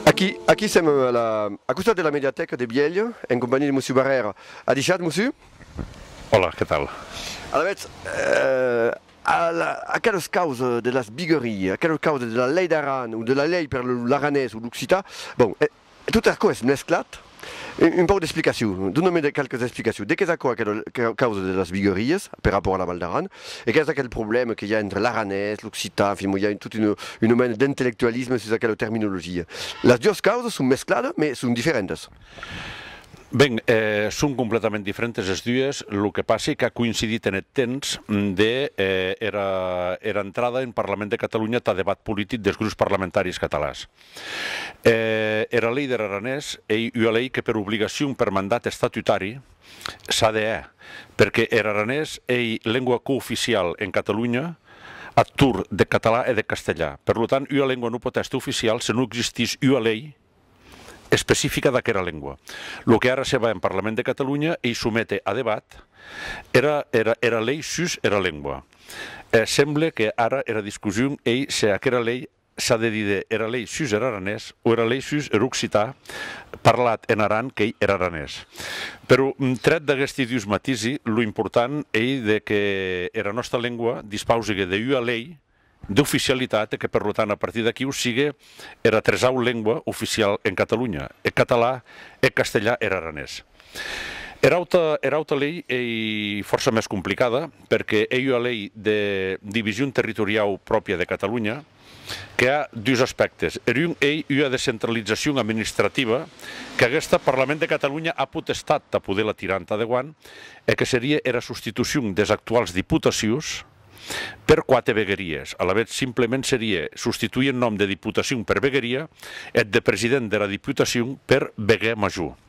Aquí, aquí sèm a la, a costat de la mediatèca de Bièlh, en companhiá de Mosiu Barrèr. Adishat, Mosiu. Òla, que tal? Alavetz, a la, aquelas causas de las bigueries, aquelas causas de la Lei d'Aran o de la Lei per l'aranés o l'occitan, bon, E tot aquò es mesclat. Un pauc d'explicacion, dona-me qualques explicacion de qu'es aquò aquela causa de las viguerias per rapòrt a la Val d'Aran e qu'es aquel problèma que i a entre l'aranés, l'occitan, en fin, mo i a tot una mena d'intellectualisme sus aquela terminologia. Las duas causas son mescladas mes son diferentas. Ben, son completament diferentas es duas, lo que passi qu'a coincidit en eth temps de era entrada en Parlament de Catalunya tà debat politic des grups parlamentaris catalans. Era lei der aranés ei ua lei que per obligacion per mandat estatutari s'a de hè, perque er aranés ei lengua cooficiau en Catalonha ath torn deth catalan e deth castelhan. Per lo tant, ua lengua non pot èster oficiau se non existís ua lei especifica d'aquera lengua. Lo que ara se va en Parlament de Catalonha ei somete a debat era lei sus era lengua. Semble que ara era discussion ei se aquera lei S'a de díder era lei sus er aranés o era lei sus er occitan parlat en Aran qu'ei er aranés. Però, tret d'aguesti dus matisi, lo important ei de que era nòsta lengua dispausigue de ua lei d'oficialitat e que per lo tant a partir d'aquiu sigue era tresau lengua oficial en Catalunya, eth català, eth castelhan e er aranés. Era auta lei ei fòrça mès complicada perque ei ua lei de division territoriau pròpia de Catalonha que a dus aspèctes. Er un ei ua descentralizacion administrativa qu'aguesta Parlament de Catalonha a potestat tà poder la tirar entà deguant e que serie era substitucion des actuals diputacions per quate vegueries. Alavetz, simplement serie substituir eth nom de diputacion per vegueria e eth de president dera diputacion per veguer major.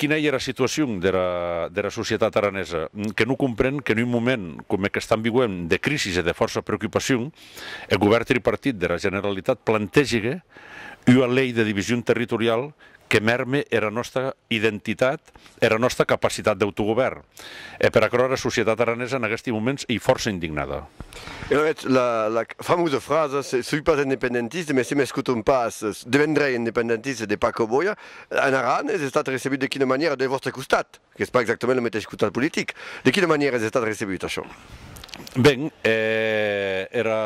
Quina ei era situacion dera societat aranesa? Que non compren qu'en un moment coma eth qu'estam viuent de crisi e de fòrça preocupacion, eth govèrn tripartit dera Generalitat plantegigue ua lei de division territoriau que mèrme era nòsta identitat e era nòsta capacitat d'autogovèrn. E per aquerò era societat aranesa en aguesti moments ei fòrça indignada. Era eth la famosa frasa soi pas independentista mès se m'escoton pas devendrei independentista de Paco Boya en Aran es estat recebut de quina manièra del vòstre costat? Qu'es pas exactament lo meteis costat politic. De quina manièra es estat recebut això? Ben, era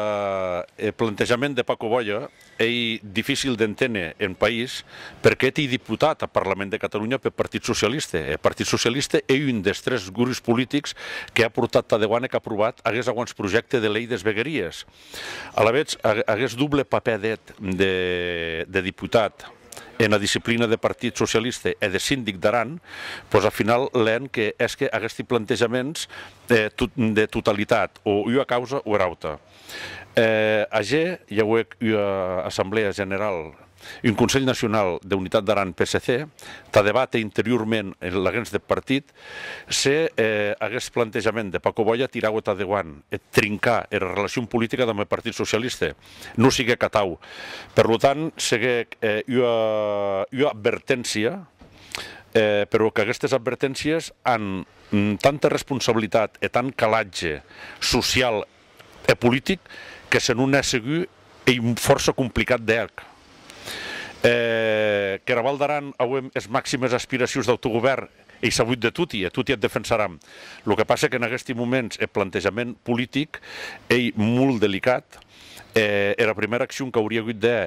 eth plantejament de Paco Boya Ei dificil d'enténer en país perqué eth deputat ath Parlament de Catalunya peth Partit Socialiste. Eth Partit Socialiste ei un des tres grups politics que a portat tà deguant e qu'a aprovat aguest auantsprojècte de lei des vegueries. Alavetz, aguest doble papèr d'eth de deputat ena disciplina deth Partit Socialiste e de sindic d'Aran, pos a final lhèn que hèsque aguesti plantejaments de totalitat o ua causa o era auta. E ager i auec ua assamblèa general, un Conselh Nacionau d'Unitat d'Aran PSC, tà debàter interiorment en laguens deth partit se aguest plantejament de Paco Boya tiraue tà deuant eth trincar era relacion politica damb eth Partit Socialiste. Non siguec atau. Per lo tant, seguec ua adverténcia, però qu'aguestes adverténcies an tanta responsabilitat e tant calatge social Eth politic que se non hè segur ei fòrça complicat de hèr. Qu'era Val d'Aran auem es maximes aspiracions d'autogovèrn ei sabut de toti e toti eth defensaram. Lo que passe qu'en aguesti moments eth plantejament politic ei molt delicat e era primèra accion qu'aurie agut de hè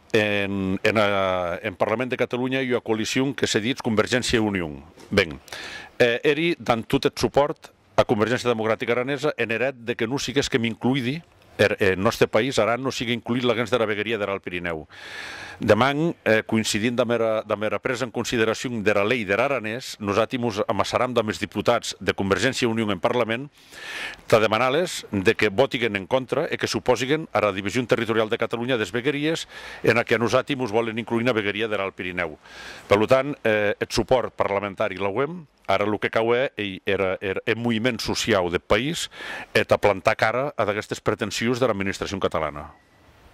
En Parlament de Catalunya i ua coalicion que se ditz Convergéncia i Union. Ben, eri dan tot eth supòrt a Convergéncia Democratica Aranesa en er hèt de que non siguésquem incluidi, er nòste país, Aran, non sigue incluit laguens dera vegueria der Alt Pirinèu. Deman, coincidint damb era presa en consideracion dera Lei der Aranés, nosati mos amassaram damb es diputats de Convergéncia i Union en Parlament Tà demanar-les de que votiguen en contra e que s'oposiguen ara division territorial de Catalunya des vegueries ena que a nosati mos vòlen incluir ena vegueria der Alt Pirinèu. Per lo tant, eth supòrt parlamentari l'auem. Ara lo que cau hè ei er moviment sociau deth país e tà plantar cara ad aguestes pretensions dera administracion catalana.